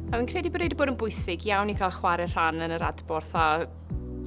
Fi'n credu bod wedi bod yn bwysig iawn i cael chwarae rhan yn yr adborth a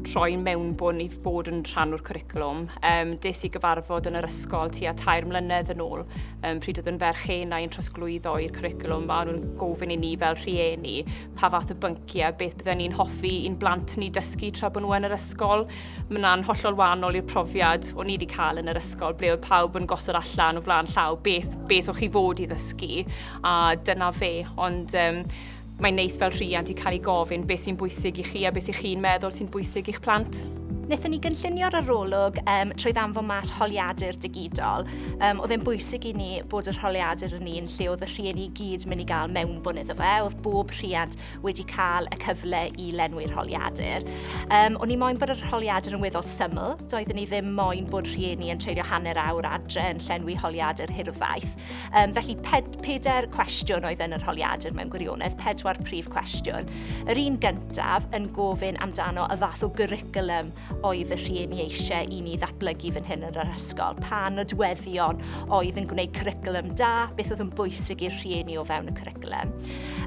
rhoi mewnbwn i fod yn rhan o'r cwricwlwm. Um, des i gyfarfod yn yr ysgol tua tair mlynedd yn ôl, um, pryd oedd yn ferch hen a'n trosglwyddo i'r cwricwlwm, a nhw'n gofyn i ni fel rhieni pa fath o bynciau, beth byddwn ni'n hoffi i'n blant ni dysgu tra bod nhw yn yr ysgol. Mae hwnna'n hollol wahanol i'r profiad o'n i wedi cael yn yr ysgol, ble oedd pawb yn gosod allan o flaen llaw beth, beth o'ch chi fod i ddysgu, a dyna fe. Ond um, mae'n neis fel rhiant i cael ei gofyn beth sy'n bwysig i chi a beth i chi'n meddwl sy'n bwysig i'ch plant. Nethon ni gynllunio'r arolwg um, trwy ddanfon mas holiadur digidol. Um, oedd e'n bwysig i ni bod yr holiadur yn un lle oedd y rhieni i gyd mynd i gael mewnbwn iddo fe. Oedd bob rhiant wedi cael y cyfle i lenwi'r holiadur. Um, o'n i moyn bod yr holiadur yn weddol syml, doeddwn i ddim moyn bod rhieni yn treulio hanner awr adre yn llenwi holiadur hirfaith. Um, felly ped, peder cwestiwn oedd yn yr holiadur mewn gwirionedd, pedwar prif cwestiwn. Yr un gyntaf yn gofyn amdano y fath o gyricwlum oedd y rhieni eisiau i ni ddatblygu fan hyn yn yr ysgol? Pa nodweddion oedd yn gwneud cwricwlwm da? Beth oedd yn bwysig i'r rhieni o fewn y cwricwlwm?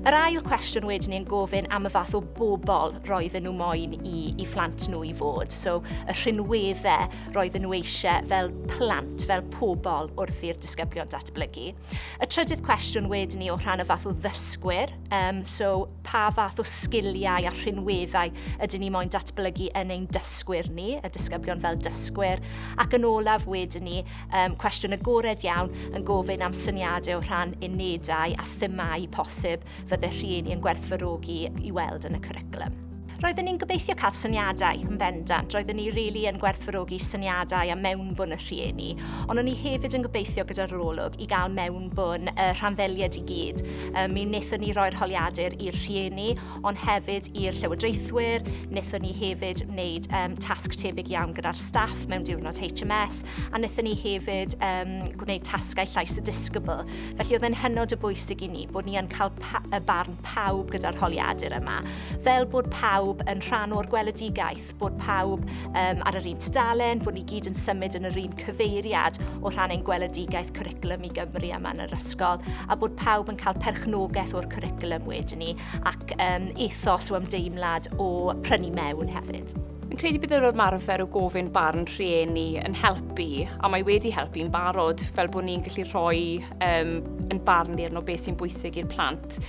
Yr ail cwestiwn wedyn ni'n gofyn am y fath o bobl roedden nhw moyn i, i phlant nhw i fod. So, y rhinweddau roedden nhw eisiau fel plant, fel pobl wrth i'r disgyblion datblygu. Y trydydd cwestiwn wedyn ni o rhan y fath o ddysgwyr, um, so pa fath o sgiliau a rhinweddau ydyn ni moyn datblygu yn ein dysgwyr ni, y disgyblion fel dysgwyr, ac yn olaf wedyn ni, um, cwestiwn agored iawn yn gofyn am syniadau o rhan unedau a themau posib fydde rhieni yn gwerthfawrogi i weld yn y cwricwlwm. Roeddwn ni'n gobeithio cael syniadau yn bendant. Roeddwn ni rili really yn gwerthfawrogi syniadau a mewnbwn y rhieni, ond o'n i hefyd yn gobeithio gyda'r olwg i gael mewnbwn y rhanddeiliaid i gyd. Um, mi wnaethon ni roi'r holiadur i'r rhieni, ond hefyd i'r llywodraethwyr. Wnaethon ni hefyd wneud um, tasg tebyg iawn gyda'r staff mewn diwrnod HMS, a wnaethon ni hefyd um, gwneud tasgau llais y disgybl Felly oedd e'n hynod o bwysig i ni bod ni yn cael y barn pawb gyda'r holiadur yma, fel bod pawb yn rhan o'r gweledigaeth, bod pawb um, ar yr un tudalen, bod ni gyd yn symud yn yr un cyfeiriad o rhan ein gweledigaeth cwricwlwm i Gymru yma yn yr ysgol, a bod pawb yn cael perchnogaeth o'r cwricwlwm wedyn ni, ac um, ethos o ymdeimlad o prynu mewn hefyd. Yn credu bydd yr ymarfer o gofyn barn rhieni yn helpu, a mae wedi helpu yn barod, fel bod ni'n gallu rhoi um, yn barn ni arno beth sy'n bwysig i'r plant.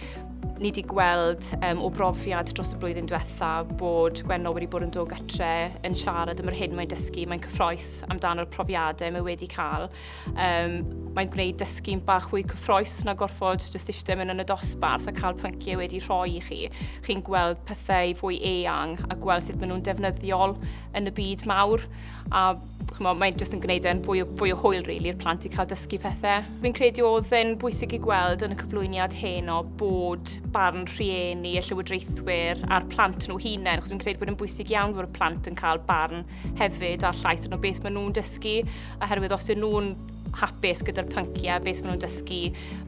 Ni wedi gweld um, o brofiad dros y blwyddyn diwetha bod Gwenno wedi bod yn dod gytre yn siarad am yr hyn mae'n dysgu, mae'n cyffroes amdano'r profiadau mae wedi cael Um, mae'n gwneud dysgu'n bach fwy cyffroes na gorfod jyst eisiau mynd yn y dosbarth a cael pynciau wedi rhoi i chi. Chi'n gweld pethau fwy eang a gweld sut maen nhw'n defnyddiol yn y byd mawr. A chymo, mae'n jyst yn gwneud e'n fwy, fwy o hwyl really, i'r plant i cael dysgu pethau. Fi'n credu oedd yn bwysig i gweld yn y cyflwyniad hyn o bod barn rhieni y llywodraethwyr a'r plant nhw hunain, chos fi'n credu bod yn bwysig iawn bod y plant yn cael barn hefyd a'r llais yn o beth maen nhw'n dysgu oherwydd os ydyn nhw'n hapus gyda'r pynciau, beth maen nhw'n dysgu.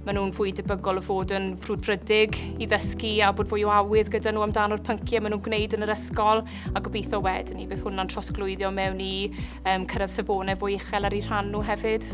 Maen nhw'n fwy debygol o fod yn ffrwdfrydig i ddysgu a bod fwy o awydd gyda nhw amdano'r pynciau maen nhw'n gwneud yn yr ysgol a gobeithio wedyn ni bydd hwnna'n trosglwyddio mewn i um, cyrraedd safonau fwy uchel ar ei rhan nhw hefyd.